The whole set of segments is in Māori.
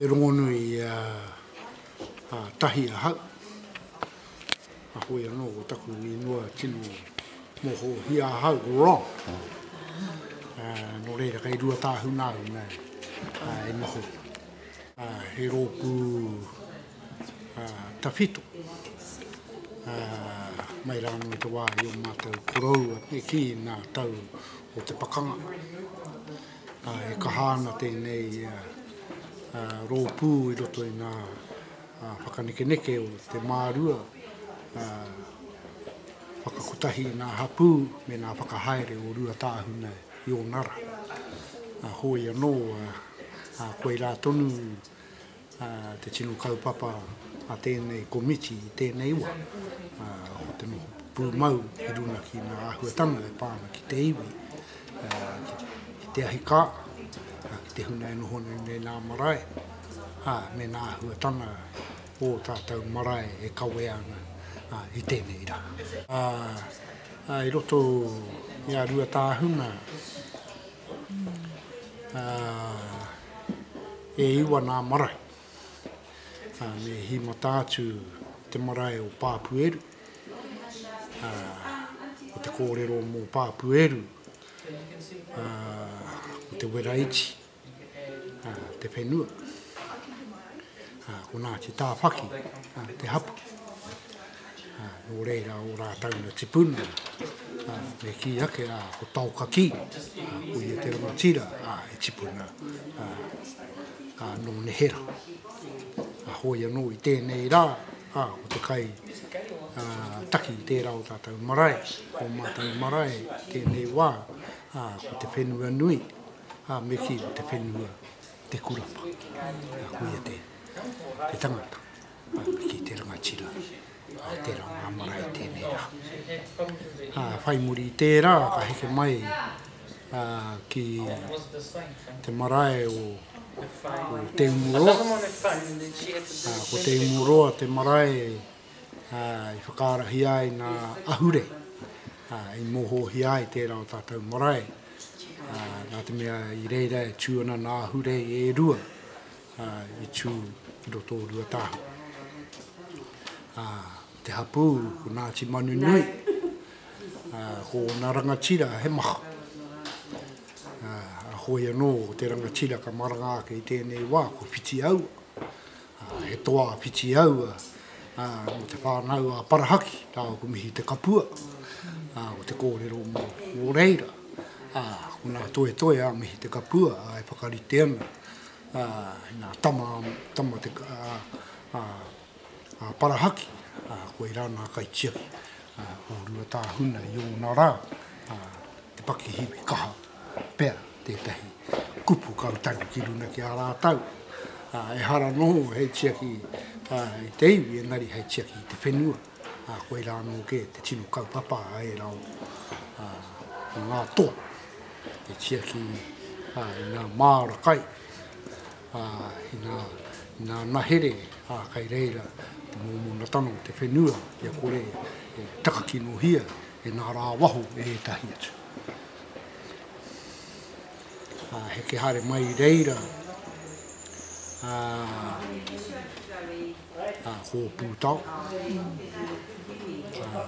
He rongonui a tahi ahau. Ahoi anō ko taku ingoa tino mohohia ahau ko Ron. Nō reira kei Ruatāhuna au nei e noho. He rōpū tawhito mai rā anō i te wā i ō mātou koroua e kī nā tau o te pakanga. E kaha ana tēnei rōpū i roto i ngā whakanekeneke o te mārua whakakotahi i ngā hapū me ngā whakahaere o Ruatāhuna i ōna rā. Hoi anō, koirā tonu. te tino kaupapa a tēnei komiti i tēnei wā, ko te noho pūmau ki runga ki ngā āhuatanga e pā ana ki te iwi, ki te ahi kā, ki te huna e noho nei me nā marae, ā, me nā āhuatanga o ō tātou marae e kawea ana i tēnei rā. Ā, i roto i a Ruatāhuna, E iwa nā marae. Me hīmata atu te marae o Pāpueru. Ko te kōrero mō Pāpueru, ko te wera iti, te whenua. Ko Ngāti Tāwhaki te hapū. Nō reira ō rātau na tipuna, me kī ake, ko Taokakī, ko ia te rangatira e tipuna, nō nehera. Hoi anō i tēnei rā, ko te kai taki i tērā o tātau marae, o mātau marae tēnei wā, ko te whenua nui, me kī ko te whenua Te Kurapa. Ko ia te tangata. ki te rangatira a tera nga marae tenei ra. Whai muri i tera ka heke mai ki te marae o Te Umuroa. Ko Te Umuroa te marae i whakaarahia ai nga ahure i mohohia ai tera o tatou marae. Na te mea i reira e tu ana nga ahure i e rua. ā, i tū ki roto o Ruatāhua. Ā, ko te hapū, ko Nāti Manunui, ā, ko ōna rangatira he maha. Ā, a Hoi anō, ko te rangatira ka maranga ake i tēnei wā, ko Whitiaua. Ā, he toa a Whitiaua, ā, mō te whānau a Parahaki, rāua ko Mihi Te Kapua. Ā, ko te kōrero mō, mō reira, ā, ko nā Toetoe a Mihi Te Kapua, ā, e whakarite ana, ā, nā, tama, tama te, ā, ā, ā Parahaki, ā, koirā nā kaitiaki, ā, o Ruatāhuna i ōna rā, ā, te pakihiwi kaha pea tētahi kupu kautahi ki runa ki a rātau, ā, ehara noho hei tiaki, ā, i te iwi engari hei tiaki i te whenua. ā, koirā anō kē te tino kaupapa a ērā o ngā toa e tiaki i ngā māra kai, ā, i ngā, i ngā nahere, ā, kai reira te mōmonatanga o te whenua kia kore e takakinohia e ngā rā waho e ētahi atu. Ā, heke haere mai i reira, ā, ā, Hōpūtao, ā,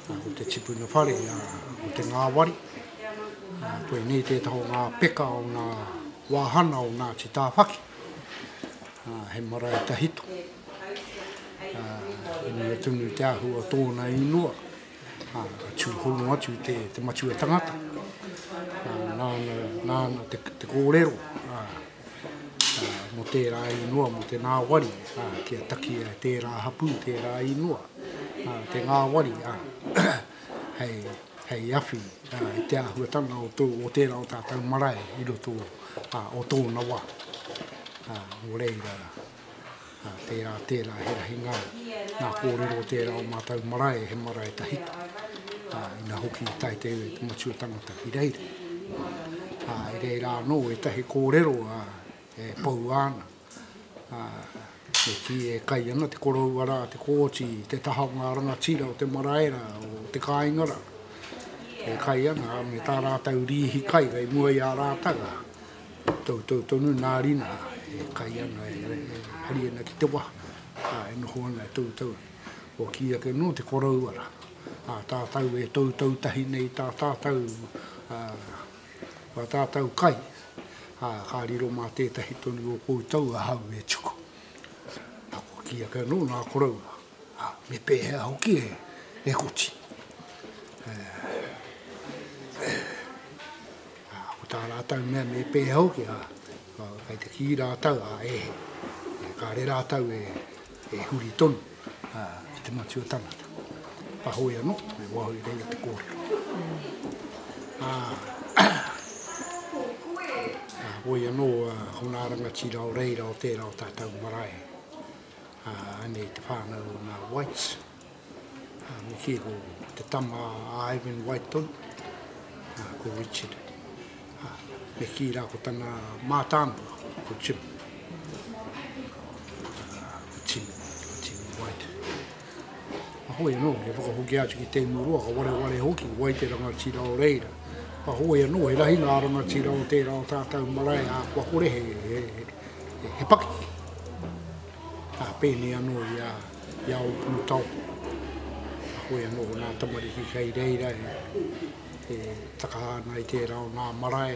ko te tipuna whare, ā, ko te ngāwari, ā, koinei tētahi o ngā peka o ngā wāhana o Ngāti Tāwhaki, ā, he marae tahito, ā, i mua tonu te ahu o tōna īngoa, ā, ka tū hono atu te, te matua tangata, ā, nāna, nāna te, te kōrero, ā, mō tērā ingoa, mō te ngāwari, ā, kia taki e tērā hapū, tērā ingoa, ā, te ngāwari, ā, hei, hei awhi, ā, i te āhuatanga o, tō, o tērā o tātou marae i roto ā, o tōna wā. Ā, nō reira, Tērā, tērā he rahi ngā, ngā kōrero o tērā o mātou marae, he marae tahita, ā, ina hoki i tae te iwi o te Matua Tangata ki reira. Ā, i reira anō ētahi kōrero, ā, e poua ana, ā, e kī, e kai ana te koroua rā, te kooti, te taha o ngā rangatira o te marae rā, o te kāinga rā, e kai ana, ā, me tā rātou rīhi kai kei mua i a rātou, ā. Toutou tonu nā Rina e kai ana, e hari ana ki te waha, ā, e noho ana e toutou. Kua kī ake nō te koroua rā, ā tātou e toutou tahi nei i tā tātou, ā, tā tātou kai, ā, ka riro mā tētahi tonu o koutou ahau e tuku. Ā, kua kī ake anō nā koroua, Ā, me pēhea hoki e, e koti? Ā, ko tā rātou mea me pēhea hoki, ā, kai te kī rātou, ā, e he. E kāre rātou e, e huri tonu, ā, ki te matua tangata. Ka hoe anō, me waho i reira te kōrero. Ā, ā, hoe anō, ā, ko ngā rangatira o reira o tērā o tātou marae, Anei te whānau o ngā Whites, me kī ko te tama a Ivan Whiteton, ko Richard. Me kī rā ko tana mātāmua, ko Jim, ko Tim, ko Tim White. Ahoi anō, he whakahoki atu ki Teimuroa, ka wareware hoki, wai te rangatira o reira. Ahoi anō, he rahi ngā rangatira o tērā o tātau marae ā kua kore he, he, he pakeke. Ā, pēnei anō i a, i a Ōpūtaoko. Ahoi anō, ko nā tamariki kei reira e, e takaha ana i tērā o nā marae,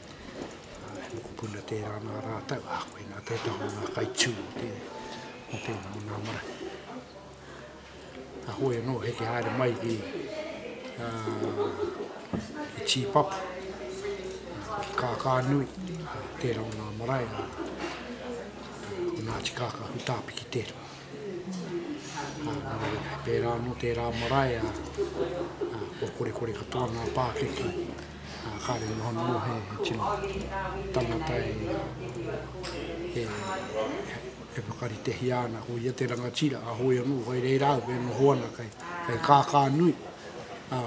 He mokopuna tērā nā rātou, ā, koinā tētahi o ngā kai tū o tēnā, o nā marae. Ka hoe anō, heke haere mai ki Tīpapu, ki Kākānui, tērā o nā marae, o nā tikāka hutāpiki tērā. Nā reira, he pērā anō tērā marae, kua korekore katoa ngā pākeke, Ā, kāre noho noho he tino tangata e whakaritehia ana, ko ia te rangatira a Hoi anō, whai reira au e noho ana kei kākā nui, ā,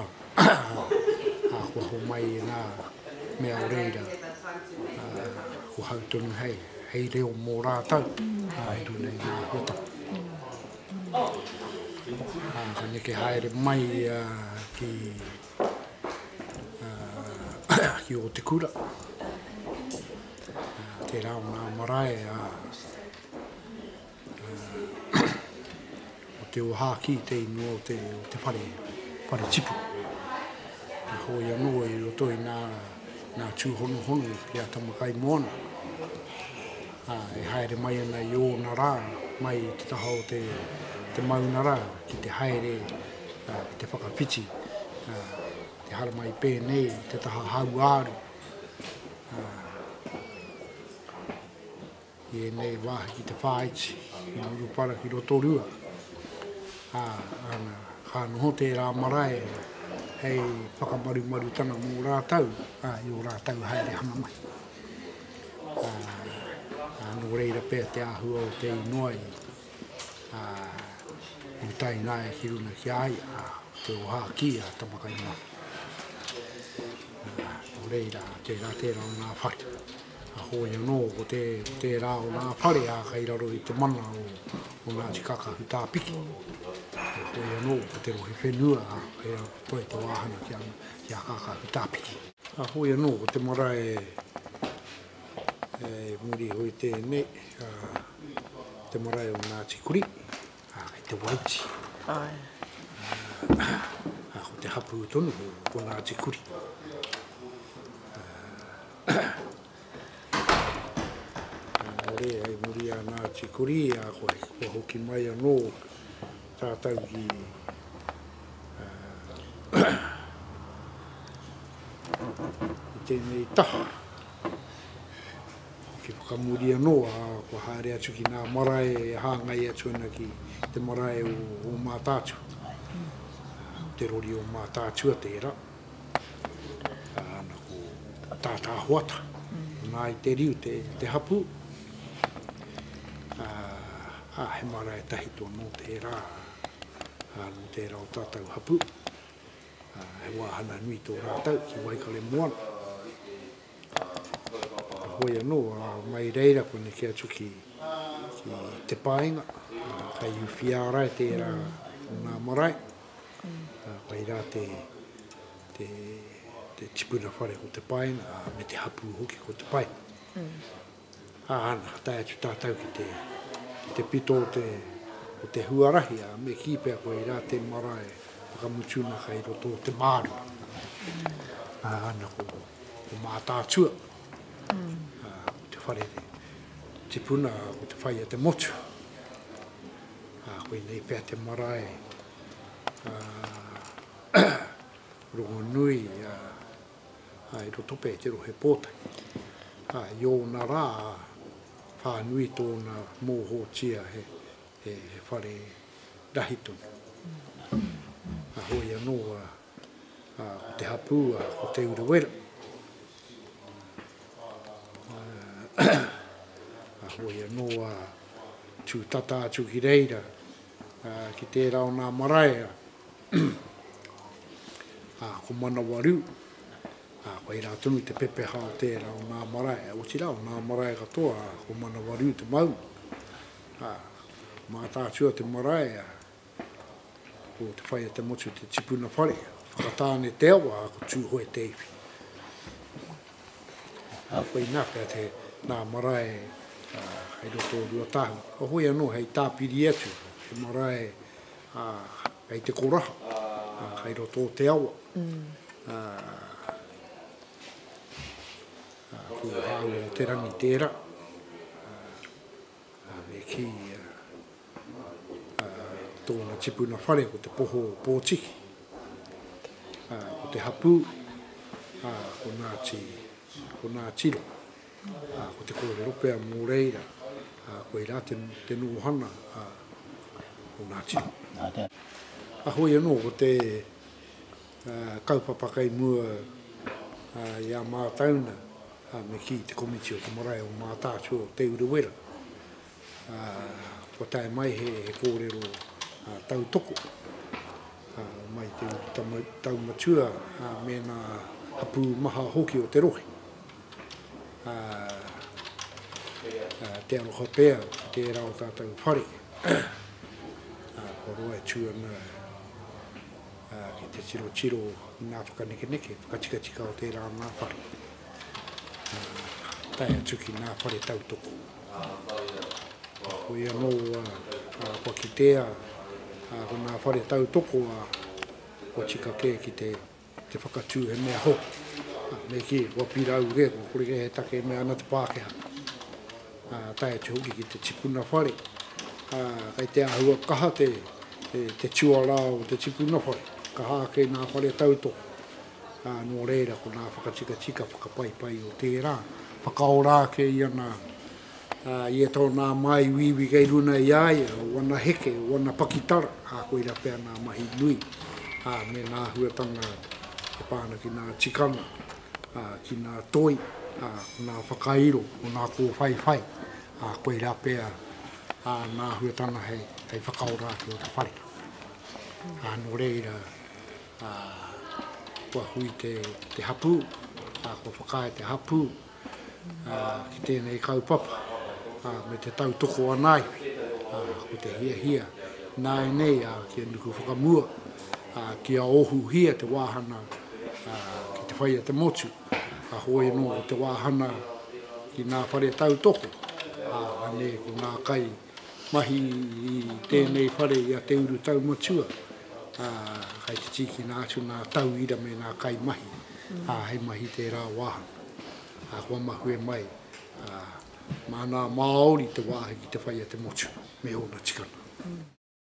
kua homai i ngā mea o reira, ā, kua hau tonu hei, hei reo mō rātou, ā, e tū nei ngā huatanga. Ā, ka neke haere mai ia ki. ki o te kura. Tērā o ngā marae a, o te ohāki te ingoa o te, o te whare, whare tipu. A hoi anō i roto i nā, nā tūhonohono ki a Tamakai Moana. A, e haere mai ana i ōna rā, mai te taha o te, te maunara ki te haere ki te whakawhiti, te haramai pēnei i te taha hauāuru i ēnei wāhi ki te whāiti, i Murupara ki Rotorua. Ā, ana, ka noho tērā marae hei whakamarumarutanga mō rātau, ā, i o rātau haere hanga mai. Ā, ā, nō reira pēr te āhua o te inoa i ā, i tae nae ki runga ki a ia, ā, te oha ki a Tamakai-mahi. Ā, nō reira, tērā, tērā o ngā whare. Ka hoi anō ko te, tērā o ngā whare, ā, kai raro i te mana o, o Ngāti Kakahutāpiki. Ka hoi anō ko te rohe whenua, ā, kai raro ko toi te wāhanga ki a, ki a Kakahutāpiki. Ka hoi anō ko te marae He murihoe tēnei, te marae o Ngāti Kuri, kei te Waiti. Ko te hapū tonu ko Ngāti Kuri. Nō reira, hei muri a Ngāti Kuri, kua hoki mai anō Tātou ki tēnei taha, ki whakamuri anō, kua haere atu ki ngā marae e hāngai atu ana ki te marae o Mātaatua, te rori o Mātaatua tērā. Ana ko Tata Hoata, nā i te riu te hapū. Ā, he marae tahi tō nō tērā, ā, nō tērā o tātou hapū. Ā, he wāhana nui tō rātou ki Waikaremoana. Ā, hoi anō, ā, mai reira koneke atu ki, ki Te Paenga, ā, kei Uwhiārae tērā o nā marae. Koia rā te tipuna whare ko te paenga, me te hapū hoki ko te paenga. Āna, tae atu tātou ki te pito o te huarahi, ā, me kī pea koia rā te marae whakamutuna kai roto o te mārama. Āna, ko Mātaatua, ko te whare tipuna, ko te whai a te motu. Ā, koinei pea te marae rongonui i roto pea i te rohe Pōtaki. Ā, i ōna rā, whānui tōna mōhōtia he whare rahi tonu. Ā, hoi anō, Ā, ko te hapū, ā, ko Te Urewera. Ā, hoi anō, ā, tū tata atu ki reira, ā, ki tērā o nā marae, ā, ā, ko Manawarū, ā, koai rā tonu te pepeha o tērā o nā marae, otirā o nā marae katoa, ā, ko Manawarū te maunga. Ā, mātātua te marae, ā. Ko Te Whai o te Motu te tipuna whare o Whakatāne Te Awa a ko Tūhoe Te Iwhi. Ā, koinā pea te nā marae hei roto o Ruatahu, ka hoi anō hei tāpiri atu he marae hei te koraha hei roto o te awa. Ko Hāwera Te Rangi tērā, me kī Tōna tipuna whare ko te poho o Pōtiki. Ko te hapū, ko Ngāti, ko Ngāti Ro. Ko te kōrero pea mō reira, koe rā te, te nōhana o Ngāti Ro. A hoi anō, ko te uh, kaupapa kai mua uh, i a Mātauna, uh, me ki te komiti o te marae o Mātātua o Te Urewera. Kua tae mai he kōrero tautoko mai te urutau taumatua me ngā hapū maha hoki o te rohe. Te aroha pea ki tērā o tātou whare kua roa atu ana ki te tirotiro i ngā whakanekeneke, whakatikatika o tērā o ngā whare, tae atu ki ngā whare tautoko. Heoi anō, kua kitea ko ngā whare tautoko kua tika kē ki te whakatū he mea hoki. Me kī, kua pirau kē, kua kore kē he take e mea ana te Pākehā. Tae atu hoki ki te tipuna whare, kei te āhua kaha te tuarā o te tipuna whare, kaha ake ngā whare tautoko. ā, nō reira ko ngā whakatikatika whakapaipai o tērā, whakaora ake i ana, ā, ia tau nā māi wīwī kei runa i a ia, o ana heke, o ana pakitara, ā, koira pea ngā mahi nui, ā, me ngā huatanga e pā ana ki ngā tikanga, ā, ki ngā toi, ā, ko ngā whakairo, ko ngā kōwhaiwhai, ā, koira pea, ā, ngā huatanga hei, hei whakaora ake o te whare. Ā, nō reira. ā, kua hui te, te hapū, ā, kua whakaae te hapū, ā, ki tēnei kaupapa, ā, me te tautoko anaiwi, ā, ko te hiahia, nāinei, ā, kia nuku whakamua, ā, kia ohuhia te wāhana, ā, ki te whaia te motu, ka hoe anō te wāhana ki ngā whare tautoko, ā, anei ko ngā kai, Mahi i tēnei whare i a Te Urutau Matua, ā, kai te tīkina atu ngā tauira me ngā kaimahi, ā, hei mahi tērā wāhanga. Ā, kua mahue mai, ā, māna a Māori te wāhi ki te whai a te motu me ōna tikanga.